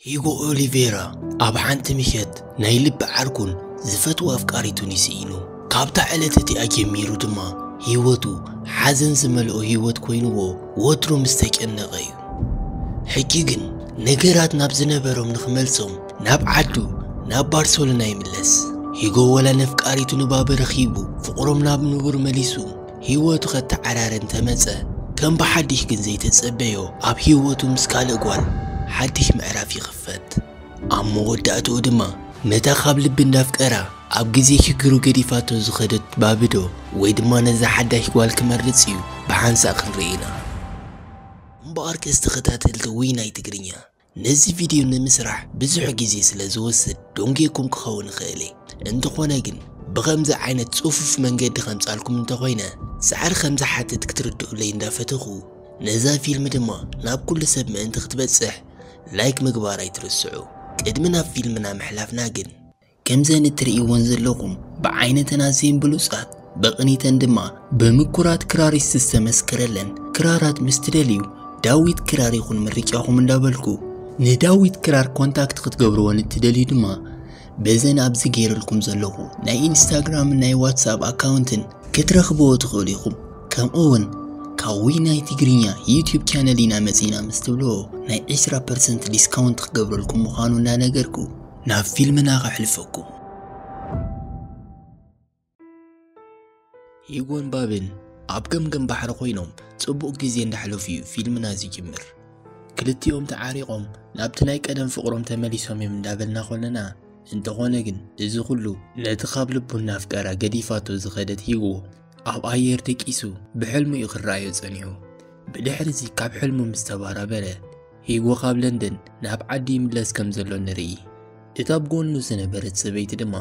ሂጎ ኦሊቬራ ኣብ ሓንቲ ምሸት ናይ ልቢ ዓርኩን ዝፈትዎ ኣፍቃሪቱን ይስኢኑ ካብታ ዕለት እቲኣ ጀሚሩ ድማ ህይወቱ ሓዘን ዝመልኦ ህይወት ኮይንዎ ወትሩ ምስ ተጨነቐ እዩ ሕጂ ግን ነገራት ናብ ዝነበሮም ንኽመልሶም ናብ ዓዱ ናብ ባርሰሎና ይምለስ ሂጎ ወላ ነፍቃሪቱ ንባበ ረኺቡ ፍቕሮም ናብ ንቡር መሊሱ ሂወቱ ከተዓራሪ እንተመጸ ከም ብሓዲሽ ግን ዘይተጸበዮ ኣብ ሂወቱ ምስ ካልእ ጓል ሓዲሽ ምዕራፍ ይኽፈት። ኣብ መወዳእትኡ ድማ ነታ ካብ ልቢ እንዳፍቀራ ኣብ ግዜ ሽግሩ ገዲፋቶ ዝኸደት ባብ'ዶ ወይ ድማ ነዛ ሓዳሽ ጓል ክመርጽ እዩ ብሓንሳእ ክንርኢ ኢና። እምበኣርከስ ተኸታተልቲ ውይ ናይ ትግርኛ ነዚ ቪድዮ ንምስራሕ ብዙሕ ግዜ ስለ ዝወስድ ዶንጌኩም ክኸውን ይኽእል እየ እንተኾነ ግን ብኸምዚ ዓይነት ጽፉፍ መንገዲ ከምጻልኩም እንተኾይነ ጻዕሪ ከም ዝሓትት ክትርድኡለይ እንዳፈተኹ ነዛ ፊልም ድማ ናብ ኩሉ ሰብ ምእንቲ ክትበጽሕ ላይክ ምግባር ኣይትርስዑ ቅድሚ ናብ ፊልምና ምሕላፍና ግን ከምዘን እትርእይወን ዘለኹም ብዓይነተን ኣዝየን ብሉጻት ብቕኒተን ድማ ብምኩራት ክራሪስት ዝተመስከረለን ክራራት ምስ ትደልዩ ዳዊት ክራር ይኹን ምርጫኹም እንዳበልኩ ንዳዊት ክራር ኮንታክት ክትገብርወን እትደልዩ ድማ በዘን ኣብዚ ገይረልኩም ዘለኹ ናይ ኢንስታግራምን ናይ ዋትስኣፕ ኣካውንትን ክትረኽብዎ ትኽእሉ ኢኹም ከምኡውን ካብ ውይ ናይ ትግርኛ ዩትዩብ ቻነል ኢና መጺና ምስ ትብልዎ ናይ 20 ፐርሰንት ዲስካውንት ክገብረልኩም ምዃኑ እንዳነገርኩ ናብ ፊልምና ከሕልፈኩም። ሂጎን ባብን ኣብ ገምገም ባሕሪ ኮይኖም ጽቡቕ ግዜ እንዳሕለፉ እዩ ፊልምና ዝጅምር። ክልቲኦም ተዓሪቖም ናብቲ ናይ ቀደም ፍቕሮም ተመሊሶም እዮም እንዳበልና ኮለና እንተኾነ ግን እዚ ኩሉ ነቲ ካብ ልቡ እናፍቀራ ገዲፋቶ ዝኸደት ሂጎ ኣብ ኣየር ደቂሱ ብሕልሙ እዩ ክረኣዮ ጸኒሑ ብድሕሪዚ ካብ ሕልሙ ምስ ተባራበረ ሂጎ ካብ ለንደን ናብ ዓዲ ይምለስ ከም ዘሎ ንርኢ እታ ኣብ ጎኑ ዝነበረት ሰበይቲ ድማ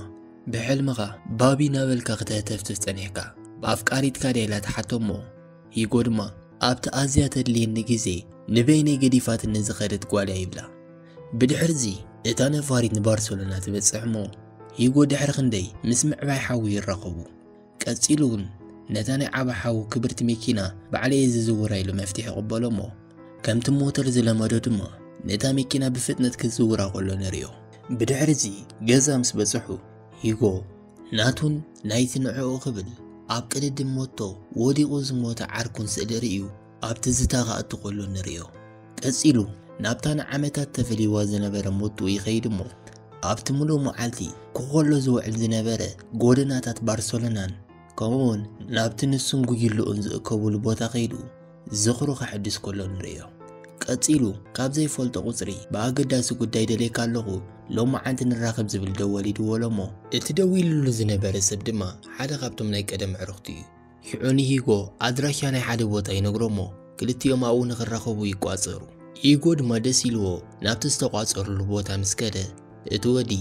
ብሕልምኻ ባቢ ናበልካ ክተህተፍትፍ ጸኒሕካ ብኣፍቃሪትካ ድያ ኢላ ትሓቶ እሞ ሂጎ ድማ ኣብቲ ኣዝያ ተድልየኒ ግዜ ንበይነይ ገዲፋትኒ ዝኸደት ጓል እያ ይብላ ብድሕሪዚ እታ ነፋሪት ንባርሰሎና ትበጽሕ እሞ ሂጎ ድሕሪ ክንደይ ምስ ምዕባይ ሓዊ ይራኸቡ ቀጺሉ ውን ነታ ናይ ዓባ ሓዉ ክብርቲ መኪና ባዕለይ'የ ዝዝውራ ኢሉ መፍትሕ ይቕበሎ'ሞ ከምቲ ሞተር ዝለመዶ ድማ ነታ መኪና ብፍጥነት ክዝውራ ከሎ ንርእዮ። ብድሕሪ'ዚ ገዛ ምስ በጽሑ ሂጎ ናቱን ናይቲ ንዕኡ ክብል ኣብ ቅድድም ሞቶ ወዲቑ ዝሞተ ዓርኩን ስእሊ ርእዩ። ኣብ ትዝታ ክኣቱ ከሎ ንርእዮ። ቀጺሉ ናብታ ንዓመታት ተፈልይዋ ዝነበረ ሞቱ ይኸይድ እሞ ኣብቲ ምሉእ መዓልቲ ኮኾሎ ዝውዕል ዝነበረ ጎደናታት ባርሰሎናን ከምኡውን ናብቲ ንሱን ጉጅልኡን ዝእከቡሉ ቦታ ከይዱ ዝኽሩ ከሐድስ ከሎ ንርእዮ። ቀጺሉ ካብ ዘይፈልጦ ቁጽሪ ብኣገዳሲ ጉዳይ ደልየካ ኣለኹ ሎመዓንቲ ንራኸብ ዝብል ደወል ይድወሎ እሞ እቲ ደዊልሉ ዝነበረ ሰብ ድማ ሓደ ካብቶም ናይ ቀደም ኣዕሩኽቱ እዩ። ሽዑ ንሂጎ ኣድራሻ ናይ ሓደ ቦታ ይነግሮ'ሞ ክልቲኦም ኣብኡ ንኽራኸቡ ይቋጸሩ። ሂጎ ድማ ደስ ኢልዎ ናብቲ ዝተቋጸሩሉ ቦታ ምስ ከደ፣ እቲ ወዲ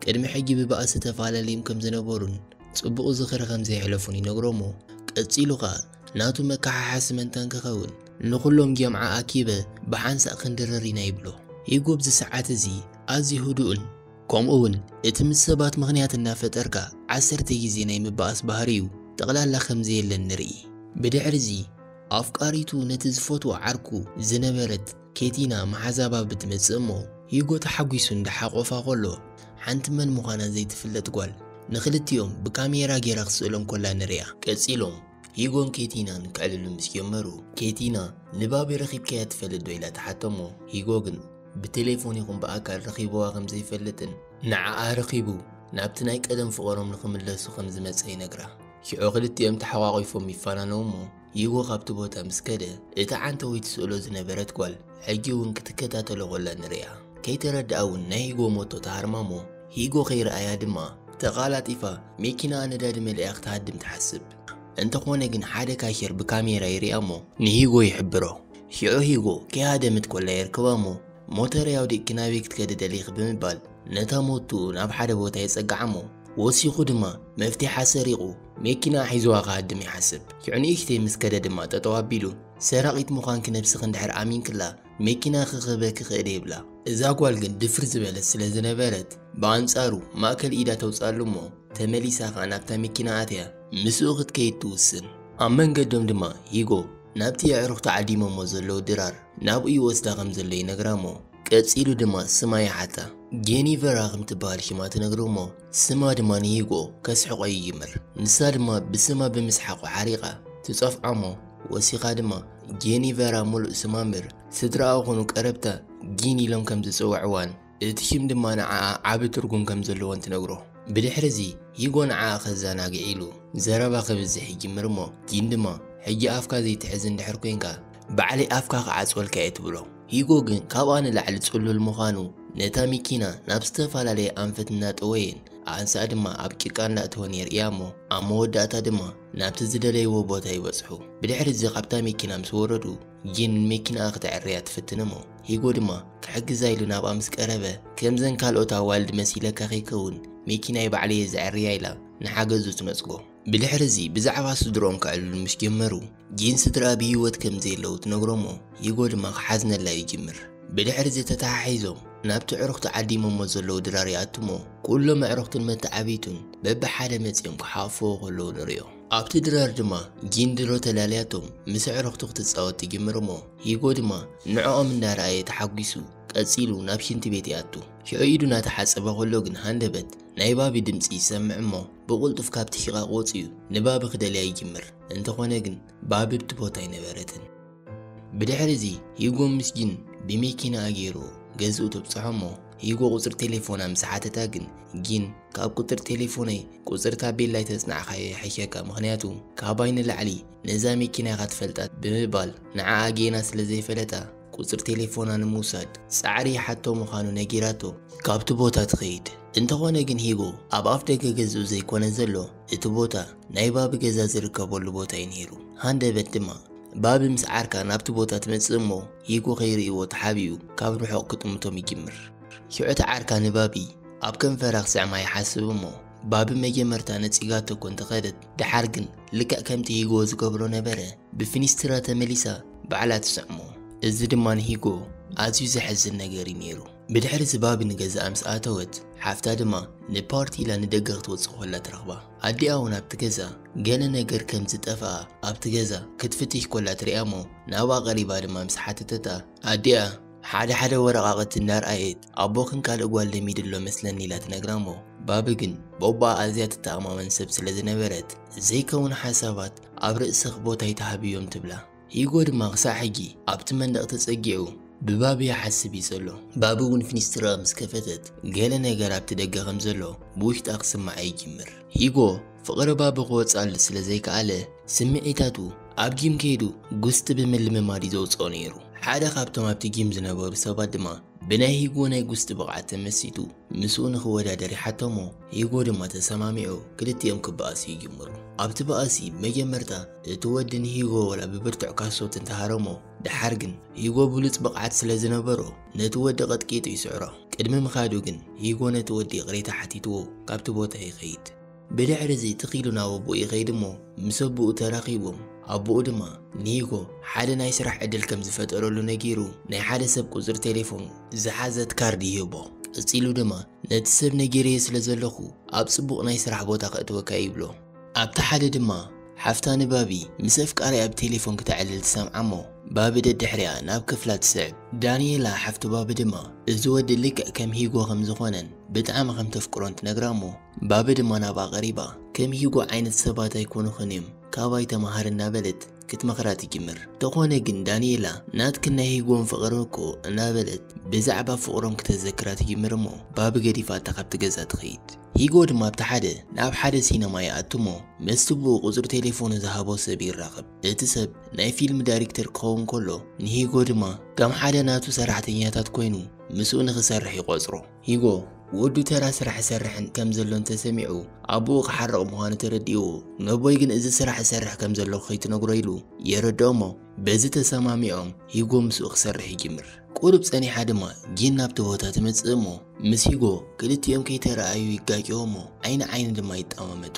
ቅድሚ ሕጂ ብባእሲ ተፋላልዮም ከም ዝነበሩን ጽቡቕ ዝኽሪ ከም ዘየሕለፉን ይነግሮ'ሞ ቀጺሉ ከኣ ናቱ መከሓሓሲ መንታ እንክኸውን ንኹሎም ጀምዓ ኣኪበ ብሓንሳእ ክንድርር ኢና ይብሎ። ሂጎ ኣብዚ ሰዓት እዚ ኣዝዩ ህዱእን፣ ከምኡ ውን እቲ ምስ ሰባት ምኽንያት እናፈጠርካ ዓሰርተ ግዜ ናይ ምባኣስ ባህርዩ ጠቕላላ ከም ዘየለ ንርኢ። ብድሕሪዚ ኣፍቃሪቱ ነቲ ዝፈትዎ ዓርኩ ዝነበረት ኬቲና መሓዛባብ ትመጽእ እሞ ሂጎ ተሓጒሱ እንዳሓቖፋ ከሎ ሓንቲ መን ምዃና ዘይትፍለጥ ጓል ንኽልቲኦም ብካሜራ ጌራ ክትስእሎም ከላ ንሪኣ። ቀጺሎም ሂጎን ኬቲናን ክዕልሉ ምስ ጀመሩ ኬቲና ንባቢ ረኺብካያ ትፈልጥ ዶ ኢላ ትሓተሞ ሂጎ ግን ብቴሌፎን ይኹን ብኣካል ረኺብዋ ከም ዘይፈልጥን ንዓኣ ረኺቡ ናብቲ ናይ ቀደም ፍቕሮም ንኽምለሱ ከም ዝመጸ ይነግራ ሽዑ ክልቲኦም ተሓቋቒፎም ይፋናነው እሞ ሂጎ ካብቲ ቦታ ምስ ከደ እታ ዓንተወይ ትስእሎ ዝነበረት ጓል ሕጂ እውን ክትከታተሎ ኮላ ንርእያ ከይተረድኣ እውን ናይ ሂጎ ሞቶ ተሃርማ እሞ ሂጎ ከይረኣያ ድማ ተቓላጢፋ መኪናኣ ነዳዲ መሊኣ ክትሃድም ትሓስብ። እንተኾነ ግን ሓደ ካሼር ብካሜራ ይሪኣ'ሞ ንሂጎ ይሕብሮ። ሽዑ ሂጎ ከይሃደምት ኮላ የርክባ'ሞ ሞተረይ ኣውዲቕኪ ናበይ ክትከዲ ደሊኺ ብምባል ነታ ሞቱኡ ናብ ሓደ ቦታ የጸግዓ'ሞ ወሲኹ ድማ መፍቲሓ ሰሪቑ መኪናኣ ሒዙዋ ክሃድም ይሓስብ። ሽዑ ንእሽተይ ምስ ከደ ድማ ጠጠው ኣቢሉ ሰራቒት ምዃንኪ ነብስኺ እንድሕር ኣሚንክላ መኪና ክክበ ክክእድ የብላ። እዛ ጓል ግን ድፍር ዝበለት ስለ ዝነበረት ብኣንጻሩ ማእከል ኢዳ ተውጽኣሉ እሞ ተመሊሳ ከኣ ናብታ መኪና ኣትያ ምስኡ ክትከይድ ትውስን። ኣብ መንገዶም ድማ ሂጎ ናብቲ የዕሩኽቱ ዓዲሞሞ ዘለዉ ድራር ናብኡ ይወስዳ ከም ዘሎ ይነግራ'ሞ ቀጺሉ ድማ ስማ ይሓታ። ጌኒቨራ ከም ትበሃል ሽማ ትነግሮ እሞ ስማ ድማ ንሂጎ ከስሕቆ ይጅምር ንሳ ድማ ብስማ ብምስሓቁ ሓሪቃ ትጸፍዖሞ ወሲካ ድማ ጄኒቨራ ሙሉእ ስማ እምብር ስድራኣ ኮኑ ቀረብታ ጂን ኢሎም ከም ዝጽውዕዋን እቲ ሽም ድማ ንዓኣ ዓቢ ትርጉም ከም ዘለዎን ትነግሮ ብድሕሪ እዚ ሂጎ ንዓኣ ከዛናግዕ ኢሉ ዘረባ ክብዝሕ ይጅምር እሞ ጂን ድማ ሕጂ ኣፍካ ዘይትሕዝ እንድሕር ኮንካ ባዕለይ ኣፍካ ክዓጽወልካ'የ ትብሎ። ሂጎ ግን ካብኣ ንላዕሊ ጽሉል ምዃኑ፣ ነታ ሚኪና ናብ ዝተፈላለየ ኣንፈት እናጠወየን ኣንሳእ ድማ ኣብ ጭቃ እናእተወን የርእያ'ሞ፣ ኣብ መወዳእታ ድማ ናብቲ ዝደለይዎ ቦታ ይበጽሑ። ብድሕሪ'ዚ ካብታ ሚኪና ምስ ወረዱ፣ ጂን ንሚኪናኣ ክተዐርያ ትፍትን'ሞ፣ ሂጎ ድማ ክሕግዛ ኢሉ ናብኣ ምስ ቀረበ፣ ከምዘን ካልኦት ኣዋልድ መሲለካ ከይከውን ሚኪናይ ባዕለይ'የ ዘዐርያ ኢላ ንሓገዙ ትነጽጎ። ብድሕሪ እዚ ብዛዕባ ስድርኦም ከዕልሉ ምስ ጀመሩ ጂን ስድርኣ ብሂወት ከም ዘየለዉ ትነግሮሞ ሂጎ ድማ ክሓዝነላ ይጅምር ብድሕሪ እዚ ተተሓሒዞም ናብቲ ዕሩክቲ ዓዲሞሞ ዘለዉ ድራር ይኣቱሞ ኩሎም ኣዕሩክትን መተዓብይቱን በብሓደ መጺኦም ክሓቁፍዎ ከለዉ ንሪኦ ኣብቲ ድራር ድማ ጂን ድሮ ተላልያቶም ምስ ኣዕሩክቱ ክትጻወት ትጅምርሞ ሂጎ ድማ ንዕኦም እንዳረኣየ ተሓጒሱ ቀጺሉ ናብ ሽንቲ ቤት ይኣቱ ሽዑ ኢዱ ናተሓጸበ ከሎ ግን ሃንደበት ናይ ባቢ ድምጺ ይሰምዕ እሞ ብቑልጡፍ ካብቲ ሺቓቕ ወጺኡ ንባቢ ክደልያ ይጅምር። እንተኾነ ግን ባቢ ኣብቲ ቦታ ኣይነበረትን። ብድሕሪዚ ሂጎ ምስ ጂን ብመኪናኣ ገይሩ ገዝኡ ተብጽሖ እሞ ሂጎ ቁጽሪ ቴሌፎና ምስ ሓተታ ግን ጂን ካብ ቁጽሪ ቴሌፎነይ ቁጽሪ ታቤላ ኣይተጽናዕካዮ ይሕሸካ ምኽንያቱ ካባይ ንላዕሊ ነዛ መኪና ኢኻ ትፈልጣ ብምባል ንዓኣ ጌና ስለ ዘይፈለጣ ቁጽሪ ቴሌፎና ንምውሳድ ጻዕሪ ይሓቶ ምዃኑ ነጊራቶ ካብቲ ቦታ ትኸይድ። እንተኾነ ግን ሂጎ ኣብ ኣፍ ደገ ገዝኡ ዘይኮነ ዘሎ እቲ ቦታ ናይ ባቢ ገዛ ዝርከበሉ ቦታ እዩ ነይሩ። ሃንደበት ድማ ባቢ ምስ ዓርካ ናብቲ ቦታ ትመጽእ እሞ ሂጎ ከይርእይዎ ተሓቢኡ ካብ ርሑቕ ክጥምቶም ይጅምር። ሽዑ እቲ ዓርካ ንባቢ ኣብ ከንፈራ ክስዕማ ይሓስብ እሞ ባቢ መጀመርታ ነጺጋቶ እኮ እንተኸደት ደሓር ግን ልክዕ ከምቲ ሂጎ ዝገብሮ ነበረ ብፊኒስትራ ተመሊሳ ባዕላ ትስዕሞ እዚ ድማ ንሂጎ ኣዝዩ ዘሕዝን ነገር እዩ ነይሩ። ብድሕሪ እዚ ባቢ ንገዛኣ ምስ ኣተወት ሓፍታ ድማ ንፓርቲ ኢላ ንደገ ክትወጽእ ኮላ ትረኽባ። ኣዲኣ እውን ኣብቲ ገዛ ገለ ነገር ከም ዝጠፍኣ ኣብቲ ገዛ ክትፍትሽ ኮላ ትርእያ እሞ ናብኣ ቀሪባ ድማ ምስ ሓተተታ ኣዲኣ ሓደ ሓደ ወረቓቕቲ እናርኣየት ኣቦኽን ካልእ ጓል ለሚዱ ኣሎ መስለኒ ኢላ ትነግራ እሞ ባቢ ግን ቦቦኣ ኣዝያ ትተኣማመን ሰብ ስለ ዝነበረት ዘይከውን ሓሳባት ኣብ ርእስኽ ቦታ ኣይትሃብዮም ትብላ። ሂጎ ድማ ክሳዕ ሕጂ ኣብቲ መንደቕ ተጸጊዑ ብባቢ ይሓስብ እዩ ዘሎ። ባቢ እውን ፊኒስትራኣ ምስ ከፈተት ገለ ነገር ኣብቲ ደገ ከም ዘሎ ብውሽጣ ክስምዓ ይጅምር። ሂጎ ፍቕሪ ባቢ ክወጽኣሉ ስለ ዘይከኣለ፣ ስምዒታቱ ኣብ ጊም ከይዱ ጉስጢ ብምልምማድ እዩ ዘውጽኦ ነይሩ። ሓደ ካብቶም ኣብቲ ጊም ዝነበሩ ሰባት ድማ ብናይ ሂጎ ናይ ጉስጢ ብቕዓት ተመሲጡ ምስኡ ንኽወዳደር ይሓቶ'ሞ ሂጎ ድማ ተሰማሚዑ ክልቲኦም ክበኣሱ ይጅምሩ። ኣብቲ ባእሲ መጀመርታ እቲ ወዲ ንሂጎ ወላ ብብርቱዕ ካሶት እንተሃረሞ፣ ደሓር ግን ሂጎ ብሉጽ ብቕዓት ስለ ዝነበሮ ነቲ ወዲ ቀጥቂጡ ይስዕሮ። ቅድሚ ምኻዱ ግን ሂጎ ነቲ ወዲ ይቕሬታ ሓቲትዎ ካብቲ ቦታ ይኸይድ። ብድሕሪ እዚ ትኽ ኢሉ ናብ ኣቦኡ ይኸይድ እሞ ምስ ኣቦኡ ተራኺቦም ኣቦኡ ድማ ንሂጎ ሓደ ናይ ስራሕ ዕድል ከም ዝፈጠረሉ ነጊሩ ናይ ሓደ ሰብ ቁጽሪ ቴሌፎን ዝሓዘት ካርድ ይህቦ። ቀጺሉ ድማ ነቲ ሰብ ነጊረዮ ስለ ዘለኹ ኣብ ጽቡቕ ናይ ስራሕ ቦታ ከእትወካ ይብሎ። ኣብቲ ሓደ ድማ ሓፍታ ንባቢ ምስ ኣፍቃሪኣ ብቴሌፎን ክተዕልል ትሰምዓ እሞ ባቢ ደድሕሪኣ ናብ ክፍላ ትስዕብ። ዳንኤላ ሓፍቲ ባቢ ድማ እዚ ወዲ ልክዕ ከም ሂጎ ከም ዝኾነን ብጣዕሚ ከም ተፍቅሮን ትነግራ እሞ ባቢ ድማ ናብኣ ቀሪባ፣ ከም ሂጎ ዓይነት ሰባት ኣይኮኑኽን እዮም፣ ካባይ ተማሃሪ እናበለት ክትመኽራ ትጅምር። ተኾነ ግን ዳኒኤላ ናትክን ናይ ሂጎን ፍቕሪ እኮ እናበለት ብዛዕባ ፍቕሮም ክተዘክራ ትጅምር እሞ ባቢ ገዲፋታ ካብቲ ገዛ ትኸይድ። ሂጎ ድማ ኣብቲ ሓደ ናብ ሓደ ሲነማ ይኣቱ እሞ ምስቲ ብኡ ቁጽሪ ቴሌፎኑ ዝሃቦ ሰብ ይራኸብ። እቲ ሰብ ናይ ፊልም ዳይሪክተር ክኸውን ከሎ ንሂጎ ድማ ከም ሓደ ናቱ ሰራሕተኛታት ኮይኑ ምስኡ ንኽሰርሕ ይቖጽሮ። ሂጎ፣ ወዱ ተራ ስራሕ ይሰርሕን ከም ዘሎን ተሰሚዑ፣ ኣቦኡ ክሓርቕ ምዃኑ ተረዲእዎ፣ ነቦይ ግን እዚ ስራሕ እሰርሕ ከም ዘለኹ ከይትነግሮ ኢሉ የረድኦ'ሞ፣ በዚ ተሰማሚዖም ሂጎ ምስኡ ክሰርሕ ይጅምር። ቁሩብ ጸኒሓ ድማ ጂን ናብቲ ቦታ ትመጽእ'ሞ፣ ምስ ሂጎ ክልቲኦም ከይተራኣዩ ይጋጨዉ'ሞ፣ ዓይኒ ዓይኒ ድማ ይጠማመቱ።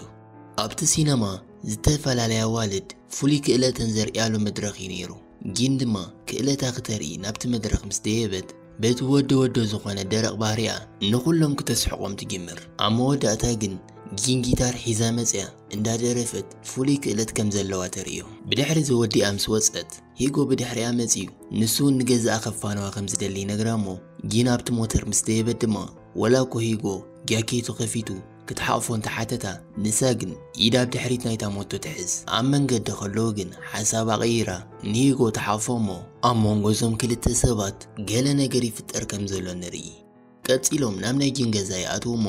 ኣብቲ ሲነማ ዝተፈላለያ ኣዋልድ ፍሉይ ክእለተን ዘርእያሉ መድረኽ'ዩ ነይሩ። ጂን ድማ ክእለታ ክተርኢ ናብቲ መድረኽ ምስ ደየበት፣ በቲ ወዶ ወዶ ዝኾነ ደረቕ ባህሪኣ ንኹሎም ክተስሕቖም ትጅምር። ኣብ መወዳእታ ግን ጂን ጊታር ሒዛ መጺኣ እንዳደረፈት ፍሉይ ክእለት ከም ዘለዋ ተርእዮ። ብድሕሪ'ዚ ወዲኣ ምስ ወጸት፣ ሂጎ ብድሕሪኣ መጺኡ ንሱ'ውን ንገዛኣ ከፋንዋ ከም ዝደሊ ይነግራ'ሞ፣ ጂን ኣብቲ ሞተር ምስ ደየበት ድማ ወላ'ኮ ሂጎ ጃኬቱ ከፊቱ፣ ክትሓቕፎ እንተ ሓተታ፣ ንሳ ግን ኢዳ ኣብ ድሕሪት ናይታ ሞቶ ትሕዝ። ኣብ መንገዲ ከለዉ ግን ሓሳባ ቀይራ ንሂጎ ትሓቕፎ እሞ ኣብ መንጎ እዞም ክልተ ሰባት ገለ ነገር ይፍጠር ከም ዘሎ ንርኢ። ቀጺሎም ናብ ናይ ጂን ገዛ ይኣትዉ እሞ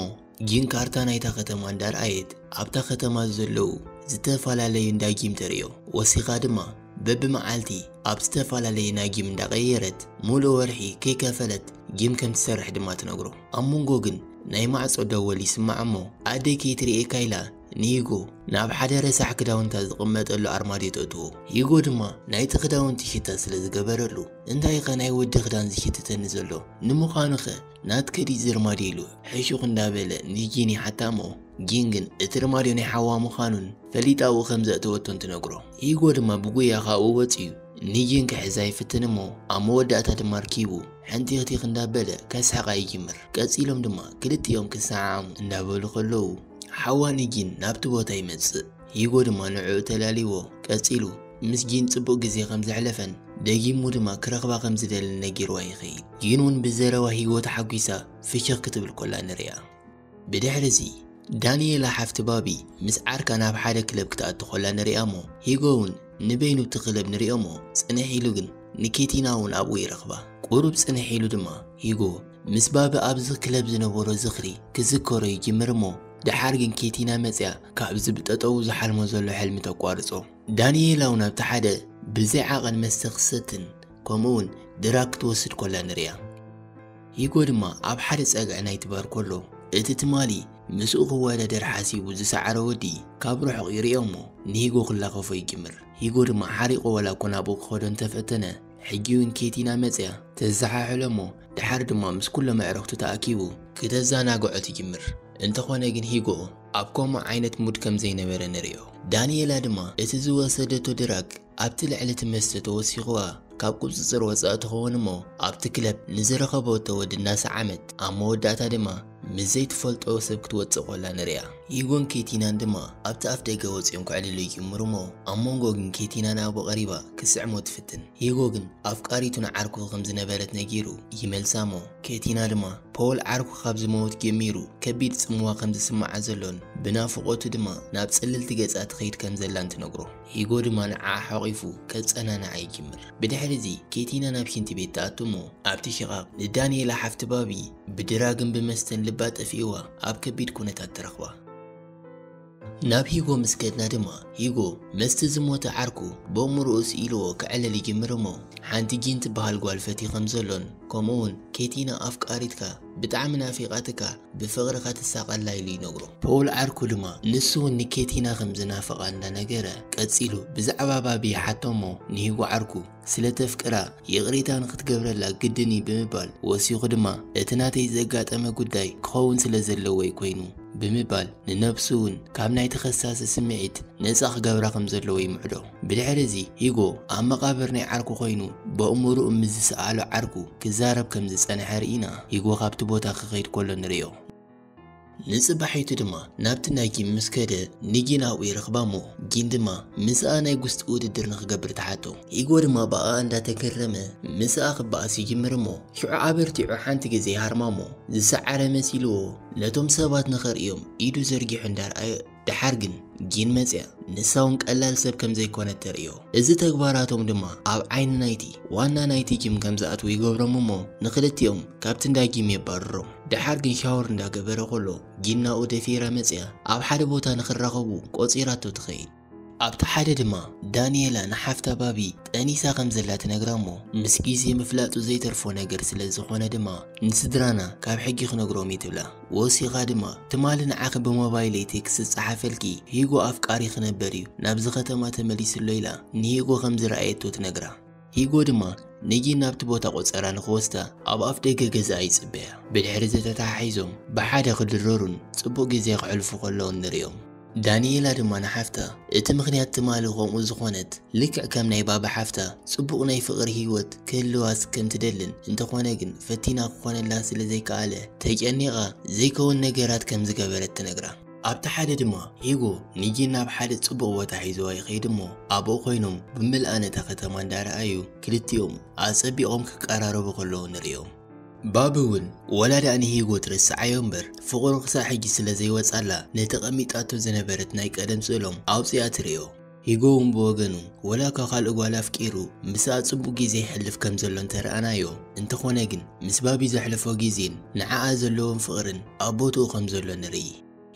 ጂን ካርታ ናይታ ከተማ እንዳ ርኣየት ኣብታ ከተማ ዘለዉ ዝተፈላለዩ እንዳ ጂም ተርእዮ። ወሲኻ ድማ በብመዓልቲ ኣብ ዝተፈላለዩ ናይ ጂም እንዳ ቀየረት ምሉእ ወርሒ ከይከፈለት ጂም ከም ትሰርሕ ድማ ትነግሮ። ኣብ መንጎ ግን ናይ ማዕጾ ደወል ይስማዕ እሞ ኣደይ ከይትርእየካ ኢላ ንሂጎ ናብ ሓደ ረሳሕ ክዳውንታ ዝቕመጠሉ ኣርማድዮ ተእትዎ። ሂጎ ድማ ናይቲ ክዳውንቲ ሽታ ስለ ዝገበረሉ እንታይኸ ናይ ወዲ ክዳን ዝሽትተኒ ዘሎ? ንምዃኑኸ ናትኪ ድዩ እዚ ርማድዮ? ኢሉ ሕሹኽ እንዳበለ ንጂን ይሓታ እሞ ጂን ግን እቲ ርማድዮ ናይ ሓዋ ምዃኑን ፈሊጣ ኣብኡ ከም ዘእተወቶን ትነግሮ። ሂጎ ድማ ብጉያ ካብኡ ወጺኡ ንጂን ክሕዛ ይፍትን እሞ ኣብ መወዳእታ ድማ ኣርኪቡ ሕንቲኽቲኽ እንዳበለ ከስሕቓ ይጅምር። ቀጺሎም ድማ ክልቲኦም ክሰዓዓሙ እንዳበሉ ከለዉ ሓዋ ንጂን ናብቲ ቦታ ይመጽእ። ሂጎ ድማ ንዕኡ ተላልይዎ ቀጺሉ ምስ ጂን ጽቡቕ ግዜ ከም ዘሕለፈን ደጊሙ ድማ ክረኽባ ከም ዝደልን ነጊርዋ ይኸይድ። ጂን ውን ብዘረባ ሂጎ ተሓጒሳ ፍሽኽ ክትብል ኮላ ንርእያ። ብድሕሪ'ዚ፣ ዳንኤላ ሓፍቲ ባቢ ምስ ዓርካ ናብ ሓደ ክለብ ክትኣቱ ከላ ንርእያ'ሞ፣ ሂጎ'ውን ንበይኑ እቲ ክለብ ንርእዮ'ሞ፣ ጽንሕ ኢሉ ግን ንኬቲና'ውን ኣብኡ ይረኽባ። ቁሩብ ጽንሕ ኢሉ ድማ ሂጎ ምስ ባቢ ኣብዚ ክለብ ዝነበሮ ዝኽሪ ክዝከሮ ይጅምር'ሞ፣ ደሓር ግን ኬቲና መጺኣ ካብዚ ብጠጠዉ ዝሓልሞ ዘሎ ሕልሚ ተቋርጾ። ዳንኤላ'ውን ኣብቲ ሓደ ብዘይ ዓቐን መስተ ክትሰትን ከምኡ'ውን ድራግ ክትወስድ ከላ ንርእያ። ሂጎ ድማ ኣብ ሓደ ጸግዒ ናይቲ ባር ኮሎ እቲ ትማሊ ምስኡ ክወዳደር ሓሲቡ ዝሰዓረ ወዲ ካብ ርሑቕ ይርእዮ እሞ ንሂጎ ክላኸፎ ይጅምር። ሂጎ ድማ ሓሪቑ ዋላ እኮ ናብኡ ክኸዶ እንተ ፈተነ ሕጂውን ኬቲና መጺኣ ተዘሓሕሎ እሞ ደሓር ድማ ምስ ኩሎም ኣዕርኽቱ ተኣኪቡ ክተዛናግዖ ትጅምር። እንተኾነ ግን ሂጎ ኣብ ከምኡ ዓይነት ሙድ ከም ዘይነበረ ንርእዮ። ዳኒኤላ ድማ እቲ ዝወሰደቶ ድራግ ኣብቲ ልዕሊ እቲ መስተ ተወሲኽዋ ካብ ቁጽጽር ወጻኢ ትኸውን እሞ ኣብቲ ክለብ ንዝረኸበቶ ወዲ እናሰዓመት ኣብ መወዳእታ ድማ ምስ ዘይትፈልጦ ሰብ ክትወጽእ ኮላ ንርእያ። ሂጎን ኬቲናን ድማ ኣብቲ ኣፍደገ ወጺኦም ክዕልሉ ይጅምሩ እሞ ኣብ መንጎ ግን ኬቲና ንኣቡ ቀሪባ ክትስዕሞ ትፍትን። ሂጎ ግን ኣፍቃሪቱ ንዓርኩ ከም ዝነበረት ነጊሩ ይመልሳ እሞ ኬቲና ድማ ፖል ዓርኩ ካብ ዝመውት ጀሚሩ ከቢድ ጽምዋ ከም ዝስምዓ ዘሎን ብናፍቖቱ ድማ ናብ ጽልልቲ ገጻ ትኸይድ ከም ዘላን ትነግሮ። ሂጎ ድማ ንዓኣ ሓቚፉ ከጸናንዓ ይጅምር። ብድሕሪ'ዚ ኬቲና ናብ ሽንቲ ቤት ትኣቱ እሞ ኣብቲ ሽቓቕ ንዳንኤላ ሓፍቲ ባቢ ብድራግን ብመስተን ልባ ጠፊእዋ ኣብ ከቢድ ኩነታት ትረኽባ። ናብ ሂጎ ምስ ከድና ድማ ሂጎ መስቲ ዝሞተ ዓርኩ በእምሮኡ ስኢልዎ ከዕልል ይጅምር እሞ ሓንቲ ጂን ትበሃል ጓል ፈትዩ ከም ዘሎን ከምኡ'ውን ኬቲና ኣፍቃሪትካ ብጣዕሚ ናፊቓትካ ብፍቕሪ ከትሳቐላ ኢሉ ይነግሮ። ፖል ዓርኩ ድማ ንሱ ውን ንኬቲና ከም ዝናፍቓ እንዳነገረ ቀጺሉ ብዛዕባ ባቢ ይሓቶ እሞ ንሂጉ ዓርኩ ስለ ተፍቅራ ይቕሬታ ንኽትገብረላ ግድን እዩ ብምባል ወሲኹ ድማ እቲ ናተይ ዘጋጠመ ጉዳይ ክኸውን ስለ ዘለዎ እዩ ኮይኑ ብምባል ንነብሱ ውን ካብ ናይ ተኸሳሲ ስምዒት ነጻ ክገብራ ከም ዘለዎ ይምዕዶ። ብድሕሪ እዚ ሂጎ ኣብ መቓብር ናይ ዓርኩ ኮይኑ በእሙሩኡ ምስ ዝሰኣሎ ዓርኩ ክዛረብ ከም ዝጸንሐ ርኢና ሂጎ ካብቲ ቦታ ክኸይድ ከሎ ንርእዮ። ንጽባሒቱ ድማ ናብቲ ናይ ጊም ምስ ከደ ንጊን ኣብኡ ይረኽባ እሞ ጊን ድማ ምስኣ ናይ ጉስጢ ውድድር ንኽገብር ትሓቶ። ሂጎ ድማ ብኣኣ እንዳተገረመ ምስኣ ክበኣስ ይጅምር እሞ ሽዑ ኣበርቲዑ ሓንቲ ግዜ ይሃርማ እሞ ዝሰዓረ መሲልዎ ነቶም ሰባት ንኸርእዮም ኢዱ ዘርጊሑ እንዳርኣየ ደሓር ግን ጊን መጺኣ ንሳውን ቀላል ሰብ ከም ዘይኮነት ተርእዮ። እዚ ተግባራቶም ድማ ኣብ ዓይኒ ናይቲ ዋና ናይቲ ጊም ከም ዝኣትዉ ይገብሮም እሞ ንኽልቲኦም ካብቲ እንዳ ጊም የባርሮም። ደሓር ግን ሻወር እንዳ ገበረ ከሎ ጊን ናብኡ ደፊራ መጺኣ ኣብ ሓደ ቦታ ንኽራኸቡ ቆጺራቶ ትኸይድ። ኣብቲ ሓደ ድማ ዳኒኤላ ንሓፍታ ባቢ ጠኒሳ ከም ዘላ ትነግራ እሞ ምስ ጊዜ ምፍላጡ ዘይተርፎ ነገር ስለ ዝኾነ ድማ ንስድራና ካብ ሕጊ ክነግሮም እዩ ትብላ። ወሲኻ ድማ ትማሊ ንዓኺ ብሞባይለይ ቴክስት ዝጸሓፈልኪ ሂጎ ኣፍቃሪ ክነበር እዩ ናብዚ ከተማ ተመሊሱ ኣሎ ኢላ ንሂጎ ከም ዝረኣየቶ ትነግራ። ሂጎ ድማ ንጊን ናብቲ ቦታ ቆጸራ ንኽወስዳ ኣብ ኣፍ ደገ ገዛኣ ይጽበያ። ብድሕሪ'ዚ ተተሓሒዞም ብሓደ ክድረሩን ጽቡቕ ግዜ ከሕልፉ ከለዉን ንርእዮም። ዳኒኤላ ድማ ንሓፍታ እቲ ምኽንያት ትማሊ ከምኡ ዝኾነት ልክዕ ከም ናይ ባባ ሓፍታ ጽቡቕ ናይ ፍቕሪ ህይወት ክህልዋስ ከም ትደልን እንተኾነ ግን ፈቲና ክኾነላ ስለ ዘይከኣለ ተጨኒቓ ዘይከውን ነገራት ከም ዝገበረት ትነግራ። ኣብቲ ሓደ ድማ ሂጎ ንጂን ናብ ሓደ ጽቡቕ ቦታ ሒዝዋ ይኸይድ እሞ ኣብኡ ኮይኖም ብምልኣ ነታ ከተማ እንዳረኣዩ ክልቲኦም ኣጸቢቖም ክቀራረቡ ከለዉ ንርእዮም። ባቢ እውን ወላ ድኣ ንሂጎ ትርስዓዮ እምበር ፍቕሩ ክሳዕ ሕጂ ስለ ዘይወጽኣላ ነቲ ቀሚጣቶ ዝነበረት ናይ ቀደም ስእሎም ኣውጺኣ ትርእዮ። ሂጎ እውን ብወገኑ ወላ እኳ ካልእ ጓል ኣፍቂሩ ምስኣ ጽቡቕ ግዜ የሕልፍ ከም ዘሎ እንተረኣናዮ እንተኾነ ግን ምስ ባቢ ዘሕልፎ ግዜን ንዓኣ ዘለዎን ፍቕርን ኣብ ቦትኡ ከም ዘሎ ንርኢ።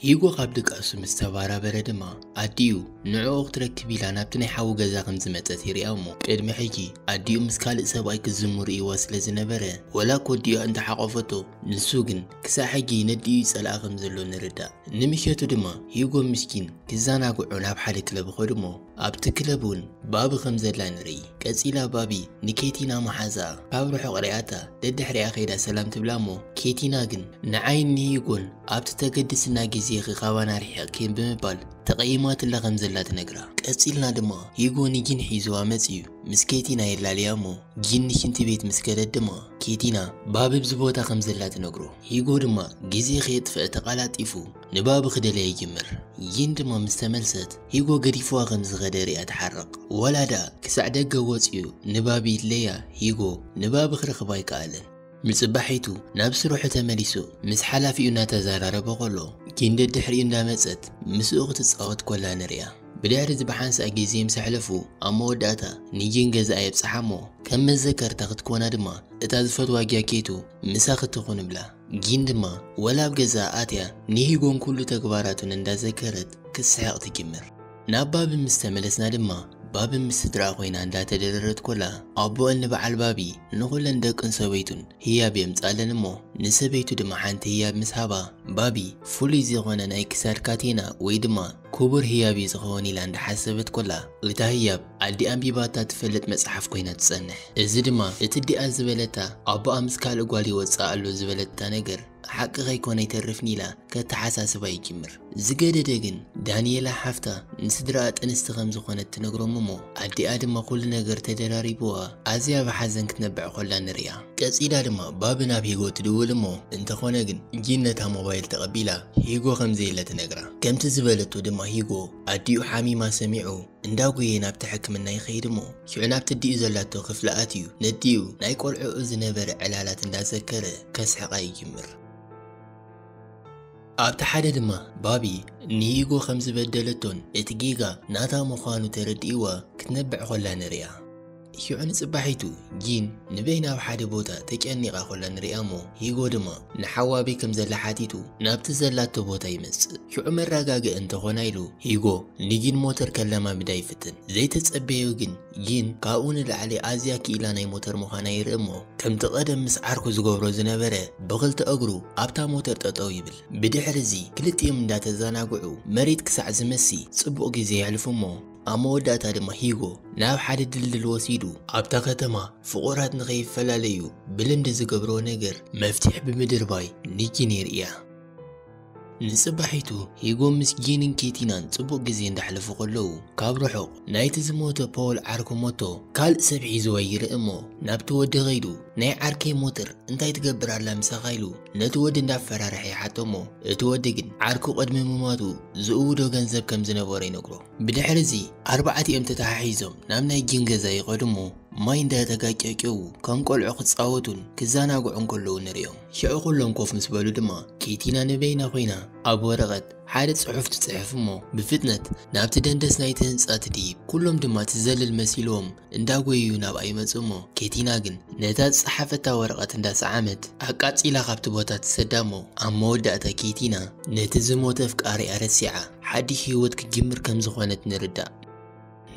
ሂጎ ካብ ድቃሱ ምስ ተባራበረ ድማ ኣዲኡ ንዕኡ ክትረክብ ኢላ ናብቲ ናይ ሓዉ ገዛ ከም ዝመጸት ይርኣ እሞ ቅድሚ ሕጂ ኣዲኡ ምስ ካልእ ሰብኣይ ክዝሙ ርእይዋ ስለ ዝነበረ ወላ እኮ ኣዲኡ እንተ ሓቆፈቶ ንሱ ግን ክሳዕ ሕጂ ይነድእዩ ይጸልኣ ከም ዘሎ ንርዳእ። ንምሸቱ ድማ ሂጎ ምስኪን ክዛናግዑ ናብ ሓደ ክለብ ኸዱ እሞ ኣብቲ ክለብ እውን ባቢ ከም ዘላ ንርኢ። ቀጺላ ባቢ ንኬቲና መሓዝኣ ካብ ርሑቕ ሪኣታ ደድሕሪኣ ከይዳ ሰላም ትብላ እሞ ኬቲና ግን ንዓይን ንሂጎን ኣብቲ ተገድስና ግዜ ኢኺ ካባና ኣርሒቕኪን ብምባል ተቐይማትላ ከም ዘላ ትነግራ። ቀጺልና ድማ ሂጎ ንጊን ሒዝዋ መጺኡ ምስ ኬቲና የላልያ እሞ ጊን ንሽንቲ ቤት ምስ ከደት ድማ ኬቲና ባቢ ኣብዚ ቦታ ከም ዘላ ትነግሮ። ሂጎ ድማ ግዜ ከየጥፈኣ ተቓላጢፉ ንባቢ ክደልያ ይጅምር። ጊን ድማ ምስ ተመልሰት ሂጎ ገዲፍዋ ከም ዝኸደ ሪኣ ትሓርቕ ወላ ድኣ ክሳዕ ደገ ወጺኡ ንባብ ይድለያ ሂጎ ንባብ ክረኽባ ኣይከኣለን። ንጽባሒቱ ናብ ስርሑ ተመሊሱ ምስ ሓላፊኡ እናተዘራረበ ከሎ ጊን ደድሕሪኡ እንዳመጸት ምስኡ ክትጻወት ኮላ ንሪኣ። ብድሕሪ እዚ ብሓንሳእ ግዜ ምስ ኣሕለፉ ኣብ መወዳእታ ንጊን ገዛኣ የብጽሓ እሞ ከም መዘከርታ ክትኮና ድማ እታ ዝፈትዋ ጃኬቱ ምሳኺ ትኹን እብላ። ጊን ድማ ወላ ኣብ ገዛኣ ኣትያ ንሂጎን ኩሉ ተግባራቱን እንዳዘከረት ክትስሕቕ ትጅምር። ናብ ባቢ ምስ ተመለስና ድማ ባቢ ምስ ስድራኣ ኮይና እንዳተደረረት ኮላ ኣቡኣን ንበዓል ባቢ ንኹለን ደቅን ሰበይቱን ህያብ የምጽኣለን እሞ ንሰበይቱ ድማ ሓንቲ ህያብ ምስ ሃባ ባቢ ፍሉይ ዝኾነ ናይ ክሳድ ካቴና ወይ ድማ ኩቡር ህያብ እዩ ዝኸውን ኢላ እንዳሓሰበት ኮላ እታ ህያብ ኣዲኣ ኣንቢባታ ትፈልጥ መጽሓፍ ኮይና ትጸንሕ እዚ ድማ እቲ እዲኣ ዝበለታ ኣቦኣ ምስ ካልእ ጓል ይወጽእ ኣሎ ዝበለታ ነገር ሓቂ ከይኮነ ኣይተርፍን ኢላ ከተሓሳስባ ይጅምር ዝገደደ ግን ዳንኤላ ሓፍታ ንስድራኣ ጥንስቲ ከም ዝኾነት ትነግሮም እሞ ኣዲኣ ድማ ኩሉ ነገር ተደራሪብዋ ኣዝያ ብሓዘን ክትነብዕ ኮላ ንሪኣ ቀጺላ ድማ ባቢ ናብ ሂጎ ትድውል እሞ እንተኾነ ግን ጂን ነታ ሞባይል ተቐቢላ ሂጎ ከምዘየለ ትነግራ። ከምቲ ዝበለቶ ድማ ሂጎ ኣዲኡ ሓሚማ ሰሚዑ እንዳጎየ ናብቲ ሕክምና ይኸይድ እሞ ሽዑ ናብቲ ኣዲኡ ዘላቶ ክፍሊ ኣትዩ ነዲኡ ናይ ቆልዕኡ ዝነበረ ዕላላት እንዳዘከረ ከስሕቓ ይጅምር። ኣብቲ ሓደ ድማ ባቢ ንሂጎ ከምዝበደለቶን እቲ ጌጋ ናታ ምዃኑ ተረዲእዋ ክትነብዕ ኮላ ንርእያ። ሂዑ ንጽባሒቱ ጂን ንበይና ኣብ ሓደ ቦታ ተጨኒቓ ኮላ ንርእያሞ ሂጎ ድማ ንሓው ኣበይ ከም ዘላ ሓቲቱ ናብቲ ዘላቶ ቦታ ይመጽእ። ሂዑ መረጋግኢ እንተኾና ኢሉ ሂጎ ንጂን ሞተር ከለማምዳ ይፍትን። ዘይተጸበዮ ግን ጂን ካብኡ ንላዕሊ ኣዝያ ክኢላ ናይ ሞተር ምዃና ይርእ'ሞ ከምቲ ቀደም ምስ ዓርኩ ዝገብሮ ዝነበረ ብኽልተ እግሩ ኣብታ ሞተር ጠጠው ይብል። ብድሕሪ'ዚ ክልቲኦም እንዳተዘናግዑ መሬት ክሳዕ ዝመሲ ጽቡቕ ግዜ የሕልፉ'ሞ፣ ኣብ መወዳእታ ድማ ሂጎ ናብ ሓደ ድልድል ወሲዱ ኣብታ ከተማ ፍቑራት ንኸይፈላለዩ ብልምዲ ዝገብሮ ነገር መፍትሒ ብምድርባይ ንጂን የርእያ። ንጽባሒቱ ሂጎ ምስ ጂንን ኬቲናን ጽቡቕ ግዜ እንዳሕለፉ ከለዉ ካብ ርሑቕ ናይቲ ዝሞተ ፖውል ዓርኩ ሞቶ ካልእ ሰብ ሒዝዋ ይርኢ እሞ ናብቲ ወዲ ከይዱ ናይ ዓርከይ ሞተር እንታይ ትገብር ኣላ ምሳኻ ኢሉ ነቲ ወዲ እንዳፈራርሐ ይሓቶ እሞ እቲ ወዲ ግን ዓርኩ ቅድሚ ምሟቱ ዝእውዶ ገንዘብ ከም ዝነበሮ ይነግሮ። ብድሕሪ እዚ ኣርባዕቲኦም ተተሓሒዞም ናብ ናይ ጂን ገዛ ይኸዱ እሞ ማይ እንዳተጋጨጨዉ ከም ቆልዑ ክጻወቱን ክዘናግዑን ከለዉ ንርእዮም። ሽዑ ኩሎም ኮፍ ምስ በሉ ድማ ኪቲና ንበይና ኮይና ኣብ ወረቐት ሓደ ጽሑፍ ትጽሕፍ እሞ ብፍጥነት ናብቲ ደንደስ ናይቲ ህንጻ ትድይብ። ኩሎም ድማ ትዘልል መሲልዎም እንዳጎየዩ ናብኣ ይመጹ እሞ ኬቲና ግን ነታ ዝጸሓፈታ ወረቐት እንዳሰዓመት ኣቃጺላ ካብቲ ቦታ ትሰዳ እሞ ኣብ መወዳእታ ኬቲና ነቲ ዝሞተ ኣፍቃሪኣ ረሲዓ ሓድሽ ህይወት ክትጅምር ከምዝኾነት ንርዳእ።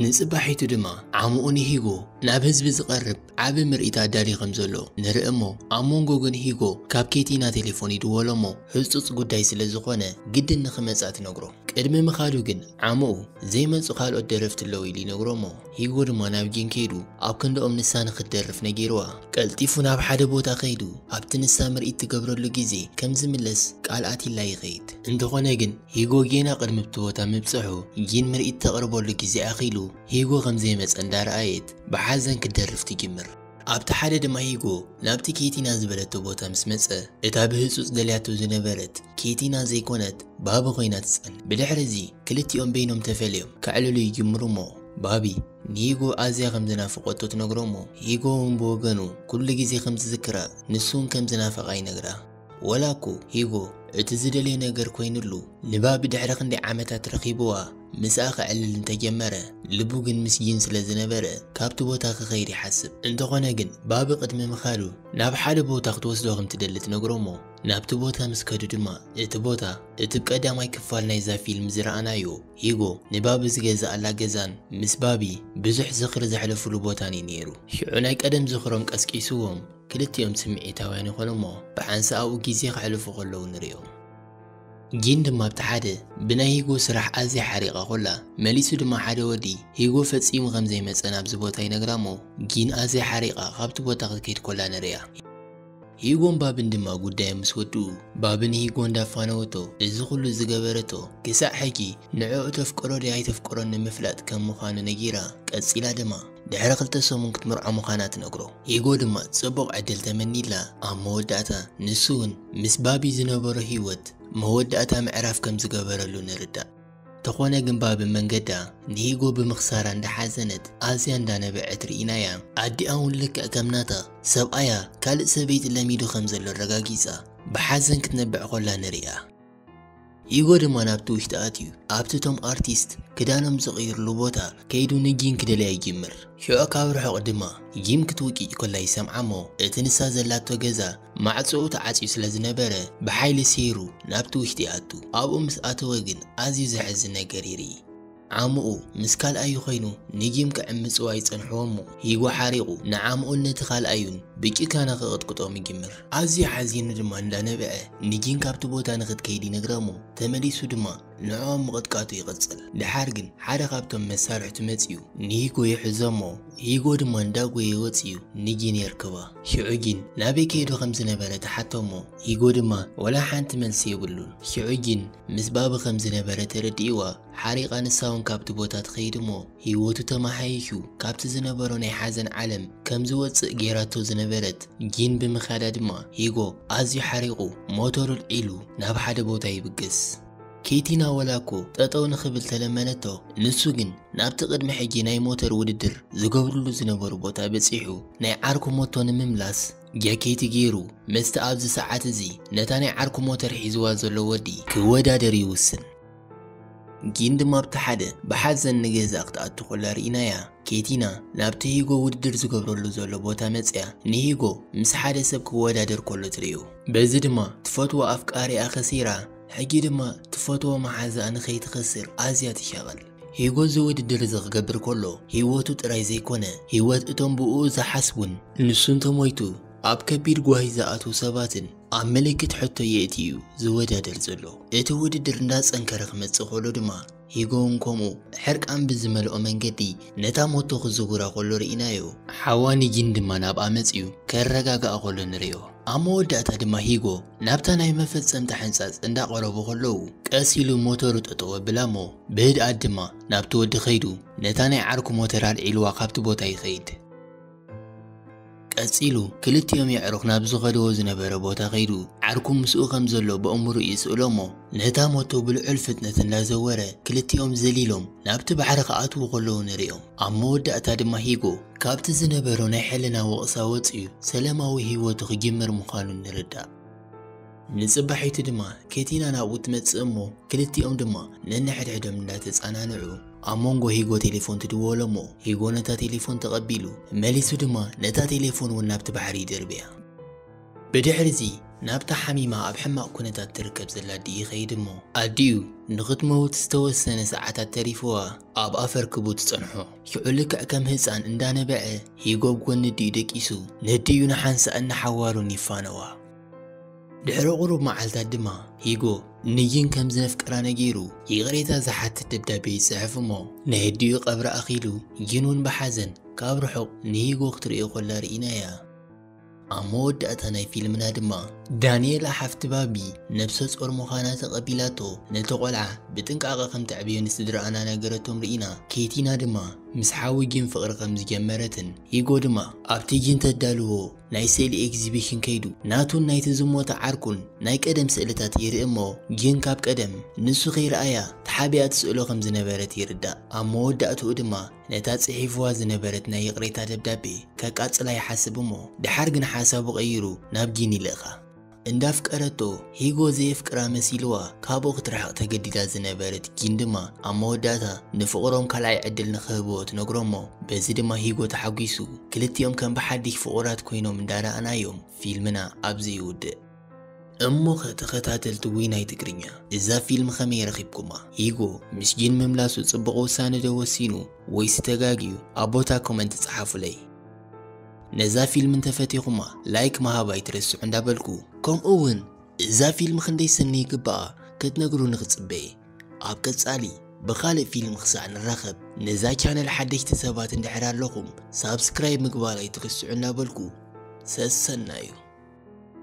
ንጽባሒቱ ድማ ዓምኡ ንሂጎ ናብ ህዝቢ ዝቐርብ ዓቢ ምርኢት ኣዳልዩ ከም ዘሎ ንርኢ እሞ ኣብ መንጎ ግን ሂጎ ካብ ኬቲና ቴሌፎን ይድወሎ እሞ ሕጹጽ ጉዳይ ስለ ዝኾነ ግድን ንኽመጽኣ ትነግሮ። ቅድሚ ምኻዱ ግን ዓምኡ ዘይመጹ ካልኦት ደረፍቲ ኣለዉ ኢሉ ይነግሮ እሞ ሂጎ ድማ ናብ ጂን ከይዱ ኣብ ክንድኦም ንሳ ንኽትደርፍ ነጊርዋ ቀልጢፉ ናብ ሓደ ቦታ ከይዱ ኣብቲ ንሳ ምርኢት ትገብረሉ ግዜ ከም ዝምለስ ቃል ኣትይላ ይኸይድ። እንተኾነ ግን ሂጎ ጌና ቅድሚብቲ ቦታ ምብጽሑ ጊን ምርኢት ተቕርበሉ ግዜ ኣኺሉ ሂጎ ከምዘይመጸ እንዳረኣየት ብሓዘን ክትደርፍ ትጅምር። ኣብቲ ሓደ ድማ ሂጎ ናብቲ ኬቲና ዝበለቶ ቦታ ምስ መጸ እታ ብህጹጽ ደልያቶ ዝነበረት ኬቲና ዘይኮነት ባቢ ኮይና ትጸንሕ። ብድሕሪ እዚ ክልቲኦም በይኖም ተፈልዮም ከዕልሉ ይጅምሩ እሞ ባቢ ንሂጎ ኣዝያ ከምዝናፍቆቶ ትነግሮ እሞ ሂጎ ውን ብወገኑ ኩሉ ግዜ ከምዝዝክራ ንሱ ውን ከምዝናፈቓ ይነግራ። ወላኮ ሂጎ እቲ ዝደልዮ ነገር ኮይኑሉ ንባቢ ድሕሪ ክንደይ ዓመታት ረኺብዋ ምስኣ ከዕልል እንተጀመረ ልቡ ግን ምስ ጂን ስለ ዝነበረ ካብቲ ቦታ ክኸይድ ይሓስብ። እንተኾነ ግን ባቢ ቅድሚ ምኻዱ ናብ ሓደ ቦታ ክትወስዶ ከም ትደሊ ትነግሮ'ሞ ናብቲ ቦታ ምስ ከዱ ድማ እቲ ቦታ እቲ ብ ቀዳማይ ክፋል ናይዛ ፊልም ዝረኣናዮ ሂጎ ንባቢ ዝገዘኣላ ገዛን ምስ ባቢ ብዙሕ ዝኽሪ ዘሕለፉሉ ቦታን'ዩ ኔሩ። ሽዑ ናይ ቀደም ዝኽሮም ቀስቂስዎም ክልቲኦም ስምዒታውያን ይዀኑ እሞ ብሓንሳእ'ኡ ግዜ ከሕልፉ ከለዉ ንርእዮም። ጂን ድማ ኣብቲ ሓደ ብናይ ሂጎ ስራሕ ኣዝያ ሓሪቓ ኰላ፣ መሊሱ ድማ ሓደ ወዲ ሂጎ ፈጺሙ ከም ዘይመጸ ናብዚ ቦታ ይነግራ እሞ ጂን ኣዝያ ሓሪቓ ካብቲ ቦታ ክትከይድ ኰላ ንርእያ። ሂጎን ባብን ድማ ጉዳዮም ምስ ወድኡ፣ ባብ ንሂጎ እንዳፋነወቶ እዚ ኵሉ ዝገበረቶ ክሳዕ ሕጂ ንዕኡ ተፍቅሮ ድያ ኣይተፍቅሮን ንምፍላጥ ከም ምዃኑ ነጊራ፣ ቀጺላ ድማ። ድሕሪ ክልተ ሰሙን ክትምርዖ ምዃና ትነግሮ። ኢጎ ድማ ጽቡቕ ዕድል ተመኒዩላ። ኣብ መወዳእታ ንሱ'ውን ምስ ባቢ ዝነበሮ ህይወት መወዳእታ ምዕራፍ ከም ዝገበረሉ ንርዳእ። ተኾነ ግን ባቢ መንገዳ ንኢጎ ብምኽሳራ እንዳሓዘነት ኣዝያ እንዳነበዐት ርኢናያ። ኣዲኣ'ውን ልክዕ ከም ናታ ሰብኣያ ካልእ ሰበይቲ ለሚዱ ከም ዘሎ ኣረጋጊጻ ብሓዘን ክትነብዕ ኮላ ንርእያ። ሂጎ ድማ ናብቲ ውሽጢ ኣትዩ ኣብቲ እቶም ኣርቲስት ክዳኖም ዝቕይርሉ ቦታ ከይዱ ንጂን ክደልያ ይጅምር። ሽዑ ካብ ርሑቕ ድማ ጂም ክትውጭጭ ኮላ ይሰምዓ እሞ እቲ ንሳ ዘላቶ ገዛ ማዕጾኡ ተዓጽዩ ስለ ዝነበረ ብሓይሊ ሰይሩ ናብቲ ውሽጢ ይኣቱ። ኣብኡ ምስ ኣተወ ግን ኣዝዩ ዘሕዝን ነገር ይርኢ። ዓምኡ ምስ ካልኣዩ ኸይኑ ንጊም ክዕምጽዎ ኣይጸንሕዎም'ሞ ሂጎ ሓሪቑ ንዓምኡን ነቲ ካልኣዩን ብጭካነ ክቕጥቅጦም ይጅምር። ኣዝዩ ሓዚኑ ድማ እንዳነብዐ ንጊን ካብቲ ቦታ ንኽትከይድ ይነግራ'ሞ ተመሊሱ ድማ ንዕኦም ምቕጥቃጡ ይቕጽል። ድሓር ግን ሓደ ካብቶም መሳርሕቱ መጺኡ ንሂጎ ይሕዞ'ሞ ሂጎ ድማ እንዳጎየ ወጺኡ ንጊን የርክባ። ሽዑ ጊን ናበይ ከይዱ ከም ዝነበረ ትሓቶ'ሞ ሂጎ ድማ ወላ ሓንቲ መልሲ የብሉን። ሽዑ ጊን ምስ ባቢ ከም ዝነበረ ተረዲእዋ ሓሪቓ ንሳውን ካብቲ ቦታ ትኸይድ እሞ ህይወቱ ተመሓይሹ ካብቲ ዝነበሮ ናይ ሓዘን ዓለም ከም ዝወጽእ ጌራቶ ዝነበረት ጂን ብምኻዳ ድማ ሂጎ ኣዝዩ ሓሪቑ ሞቶሩ ኣልዒሉ ናብ ሓደ ቦታ ይብግስ። ኬቲና ወላ እኮ ጠጠው ንኽብል ተለመነቶ፣ ንሱ ግን ናብቲ ቅድሚ ሕጂ ናይ ሞተር ውድድር ዝገብርሉ ዝነበሩ ቦታ በጺሑ ናይ ዓርኩ ሞቶ ንምምላስ ጃኬቲ ጌሩ ምስቲ ኣብዚ ሰዓት እዚ ነታ ናይ ዓርኩ ሞተር ሒዝዋ ዘሎ ወዲ ክወዳደር ይውስን። ጊን ድማ ኣብቲ ሓደ ብሓዘን ንገዛ ክትኣቱ ኮላ ርኢናያ። ኬቲና ናብቲ ሂጎ ውድድር ዝገብረሉ ዘሎ ቦታ መጺኣ ንሂጎ ምስ ሓደ ሰብ ክወዳደር ኮሎ ትርእዮ። በዚ ድማ ትፈትዎ ኣፍቃሪኣ ከሲራ ሕጂ ድማ ትፈትዎ መሓዛኣ ንከይትከስር ኣዝያ ትሻቐል። ሂጎ እዚ ውድድር እዚ ክገብር ኮሎ ሂወቱ ጥራይ ዘይኮነ ሂወት እቶም ብእኡ ዝሓስቡን ንሱ እንተሞይቱ ኣብ ከቢድ ጓሂ ዝኣትዉ ሰባትን ኣብ ምልክት ሕቶ የእቲ እዩ ዝወዳደር ዘሎ። እቲ ውድድር እንዳጸንከረ ክመጽእ ከሎ ድማ ሂጎውን ከምኡ ሕርቃን ብዝመልኦ መንገዲ ነታ ሞቶ ክዝውራ ከሎ ርኢናዮ። ሓዋ ኒጂን ድማ ናብኣ መጺኡ ከረጋግኣ ከሎ ንርእዮ። ኣብ መወዳእታ ድማ ሂጎ ናብታ ናይ መፈጸምታ ሕንጻጽ እንዳቐረቡ ከለዉ ቀስ ኢሉ ሞተሩ ጠጠው ኣብላሞ ብህድኣት ድማ ናብቲ ወዲ ከይዱ ነታ ናይ ዓርኩ ሞተር ኣልዒልዋ ካብቲ ቦታ ይኸይድ። ቀጺሉ ክልቲኦም የዕሩኽ ናብ ዝኸድዎ ዝነበረ ቦታ ከይዱ ዓርኩ ምስኡ ከም ዘሎ በእምርኡ ይስእሎ እሞ ነታ ሞቶ ብልዑል ፍጥነት እንዳዘወረ ክልቲኦም ዘሊሎም ናብቲ ባሕሪ ክኣትዉ ከለዉ ንርእዮም። ኣብ መወዳእታ ድማ ሂጎ ካብቲ ዝነበሮ ናይ ሕልና ወቕሳ ወጺኡ ሰለማዊ ህይወቱ ክጅምር ምዃኑ ንርዳእ። ንጽባሒቱ ድማ ኬቲና ናብኡ ትመጽእ እሞ ክልቲኦም ድማ ነንሕድሕዶም እንዳተጻናንዑ ኣብ መንጎ ሂጎ ቴሌፎን ትድወሎ እሞ ሂጎ ነታ ቴሌፎን ተቐቢሉ መሊሱ ድማ ነታ ቴሌፎን እውን ናብቲ ባሕሪ ይድርብያ ብድሕሪ እዚ ናብታ ሓሚማ ኣብ ሕማቕ ኩነታት ትርከብ ዘላ ኣዲኡ ይኸይድ እሞ ኣዲኡ ንኽትመውት ዝተወሰነ ሰዓታት ተሪፍዋ ኣብ ኣፈርክቡ ትጸንሖ ሽዑ ልክዕ ከም ህፃን እንዳነበዐ ሂጎ ኣብ ጎኒ ኣዲኡ ደቂሱ ነዲኡ ንሓንሳእን ንሓዋሩን ይፋነዋ ድሕሪ ቁሩብ መዓልታት ድማ ሂጎ ንይን ከም ዝነፍቅራ ነጊሩ ይቕሬታ ዝሓትት ደብዳቤ ይጽሕፍ እሞ ናይ ኣዲኡ ቀብሪ ኣኺሉ ይን እውን ብሓዘን ካብ ርሑቕ ንሂጎ ክትርእዮ ኮላ ርኢናያ። ኣብ መወዳእታ ናይ ፊልምና ድማ ዳንኤላ ሓፍቲ ባቢ ነብሰ ጾር ምዃና ተቐቢላቶ ነቲ ቆልዓ ብጥንቃቐ ከም ተዕብዮ ንስድራኣና ነገረቶም ርኢና። ኬቲና ድማ ምስ ሓዊ ጊን ፍቕሪ ከም ዝጀመረትን ሂጎ ድማ ኣብቲ ጊን ተዳልዎ ናይ ስእሊ ኤግዚቢሽን ከይዱ ናቱን ናይቲ ዝሞተ ዓርኩን ናይ ቀደም ስእልታት ይርኢ እሞ ግን ካብ ቀደም ንሱ ከይረኣያ ተሓቢኣ ትስእሎ ከም ዝነበረት ይርዳእ። ኣብ መወዳእትኡ ድማ ነታ ጽሒፍዋ ዝነበረት ናይ ይቕሬታ ደብዳቤ ከቃጽላ ይሓስብ እሞ ድሓር ግን ሓሳቡ ቀይሩ ናብ ጊኒ ይልእኻ። እንዳፍቀረቶ ሂጎ ዘየፍቅራ መሲልዋ ካብኡ ክትርሕቕ ተገዲዳ ዝነበረት ጊን ድማ ኣብ መወዳእታ ንፍቕሮም ካልኣይ ዕድል ንኽህብዎ ትነግሮሞ በዚ ድማ ሂጎ ተሓጒሱ ክልቲኦም ከም ብሓዲሽ ፍቑራት ኮይኖም እንዳረኣናዮም ፊልምና ኣብዚ ይውድእ። እሞኸ ተኸታተልቲ ዊናይ ትግርኛ እዛ ፊልም ከመይ ረኺብኩማ? ሂጎ ምስ ጂን ምምላሱ ጽቡቕ ውሳነ ዶ ወሲኑ ወይሲ ተጋግዩ ኣብ ቦታ ኮመንት ጸሓፉለይ። ነዛ ፊልም እንተፈቲኹማ ላይክ ምሃብ ኣይትረስዑ እንዳበልኩ ከምኡ እውን እዛ ፊልም ክንደይ ሰኒ ይግባኣ ክትነግሩኒ ክፅበ ኣብ ቀፃሊ ብኻልእ ፊልም ክሳዕ ንራኸብ ነዛ ቻነል ሓደሽቲ ሰባት እንድሕር ኣለኹም ሳብስክራይብ ምግባር ኣይትረስዑ እንዳበልኩ ሰሰናዩ